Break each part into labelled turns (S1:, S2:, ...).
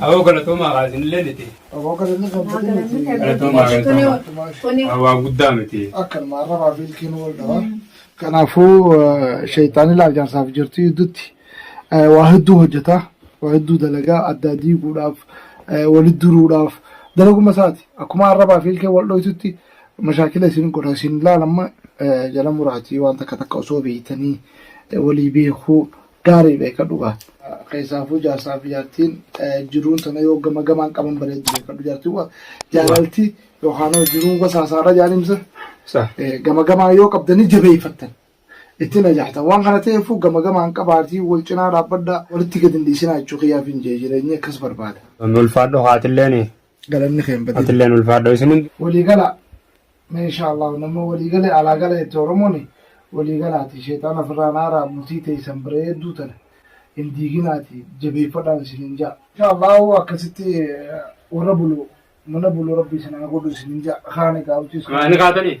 S1: Awoo galatoomaa kaasin illee niti. Aboo galanni kan
S2: fudhi miti. Galatoomaa
S1: galatoomaa. Waa guddaa miti. Akkanuma arrabaa fi
S2: ilkiin wal dhawa. Kanaafuu sheexaanii laajaansaaf jirtu gidduutti waa hedduu hojjeta. Waa hedduu dalagaa addaa diiguudhaaf walitti duruudhaaf dalaguma isaati. Akkuma arrabaa fi ilkeen wal dhoytutti Mashaakila isin godha isin laal amma jala muraatii waan takka takka osoo beeytanii walii beekuu gaarii beeka dhugaa. Keessaafuu jaarsaa fi jaartiin jiruun tana yoo gama gamaan qaban bareeddu beekadhu jaartiin waa jaalalti yookaan hoo jiruun wasaasaadha jaanimsa Sa.
S1: gama gamaa yoo
S2: qabdanii jabeeffattan itti najaatan waan kana ta'eefuu gama gamaan qabaatii wal cinaa dhaabbadhaa walitti gad hin dhiisinaa jechuu kiyyaaf hin jee jireenyi akkas barbaada. Ulfaadhu haatilleen
S1: galanni keen badii
S2: Atilleen ulfaadhoo isin hundi.
S1: waliigala
S2: mee insha Allah namni waliigale alaa gala jette Oromoon waliigalaati sheexaan ofirraa naaraa bultii teessan bareedduu tana hin diiginaati jabeeffadhaan isiniin ja'a. Insha Allah akkasitti eh, warra bulu mana bulu rabbi isin haa godhu isiniin ja'a. Kaan egaa hojii sun- Ani kaatanii.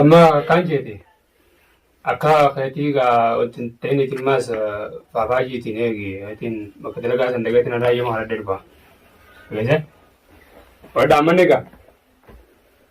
S1: amma akkaan jeete akka keetii gaa wanti ta'in itin maas faafaajiitiin eegi itin bakka dalagaa san dagatiin irraa yema kana darba. Galee? Wadda amma ni gaa.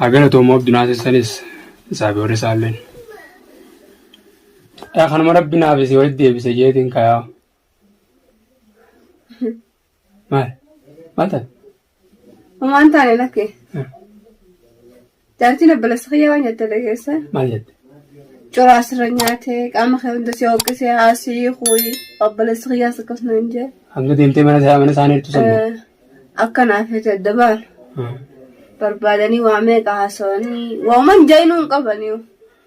S1: Hagana toomoo abdunaa sessanis isaa biyyoota isaalleen. Yaa kanuma rabbi naaf isii walitti deebise jeetiin kayaa. Maal? Maal taate? Homaan
S3: taane lakke. Jaartiin abbalessa kiyyaa waan jette dhageessa. Maal jette?
S1: Coraa
S3: asirra nyaate qaama kee hunda si hooqqisee haasii kuuyi abbalessa kiyyaas akkasuma hin jee. Hanga deemtee mana isaa
S1: mana isaanii jirtu sannu. Akkanaa fi
S3: adda baana. Barbaadanii waa meeqa haasawanii waaman jaayinuu hin qabaniiru.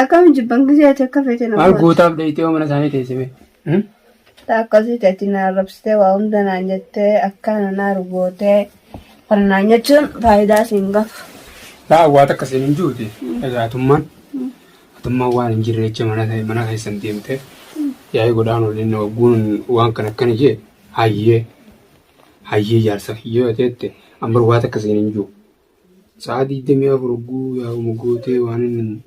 S1: Akkam
S3: jibban gisee ati akka feete na Maal goota. gootaaf dheeyxee
S1: mana isaanii teessime.
S3: Akkasii ati na arrabsitee waa hunda naan jettee akkaan na naaru gootee kana naan jechuun faayidaa siin qabu. Laa waa
S1: takka siin hin juute. Egaa atummaan atummaan waan hin jirre jecha mana ta'e mana keessan deemtee yaa'ii godhaan waliin na wagguun waan kan akkana jee hayyee hayyee jaarsa kiyyoo jettee ambar waa takka siin hin juu. Sa'a 24 hogguu yaa'uma gootee waan inni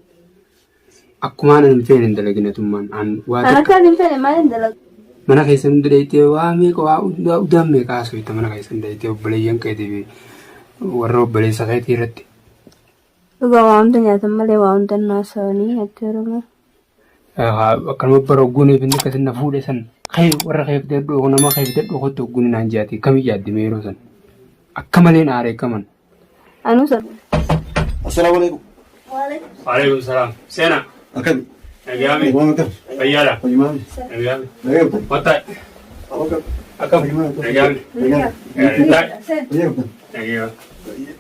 S1: akkuma
S3: aanan
S1: hin feene hin
S3: dalagin
S1: atummaan
S3: aan
S1: waa Kan takka akkaan
S3: hin fedhe
S1: maal hin dalagu? mana keessa hunda dhayitee waa meeqa waa hundaa udaan meeqa haasofta mana keessa hunda dhayitee obboleeyyan keetii fi warra obboleessa keetii irratti. Dhugaa
S4: waa hunda nyaatan malee waa hunda hin haasa'anii jechuudha.
S1: akkanuma bara hogguun eefinni akkasin na fuudhe san kee warra kee fidadhu kun nama kee fidadhu kottu hogguun naan jaate kam yaadde mee yeroo san akka malee na aare akkaman. Anuu sana.
S4: Assalaamu
S5: alaikum. Waalaikum
S1: salaam. Seena. Akkami.
S5: Nagaami. Waan
S1: akkam. Fayyaadha.
S5: Fayyumaami. Nagaami.
S1: Nagaa akkam. Wattaay. Akkam.
S5: Akkam.
S1: Nagaami. Nagaa. Nagaami. Fayyaa
S5: akkam. Nagaami.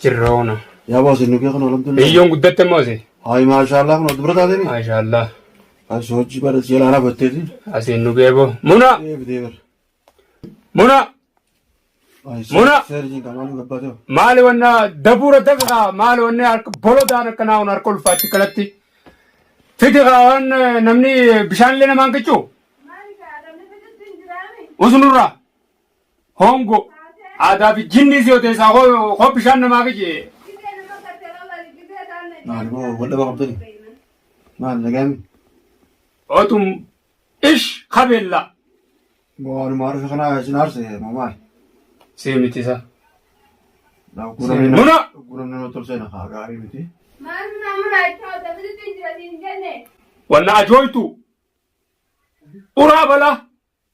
S5: Jirra hoona.
S1: Yaa boose nu kee kan
S5: alhamdulillah. Biyyoon guddatte moose.
S1: Hayi maashaallah kun
S5: dubra taatee. Maashaallah.
S1: Kan soojii
S5: bara seela ana batteeti. Asiin nu kee boo.
S1: Muna. Deebitee bara.
S5: Muna.
S1: Muna. Seerjiin kan
S5: maaliif gabbaatee bara. Maali wanna
S1: dabuura dafa maali wanna harka bolodaan akkanaa kun harka ulfaatti kanatti. Fidi waan namni bishaan illee namaan qiccu. Usunurraa. Hoongoo. Aadaa fi jinnii si odeessaa hoo bishaan namaa qije.
S5: Maal boo wal dhaba qabdani? Maal nagaami?
S1: Otum ish kabeella. Boo
S5: anuma harka kana isin aarse moo maal? Si mitisa. Muna!
S1: Guuramni nama tolchee na
S5: haa gaarii miti.
S1: Wanna ajooytu. Uraa balaa.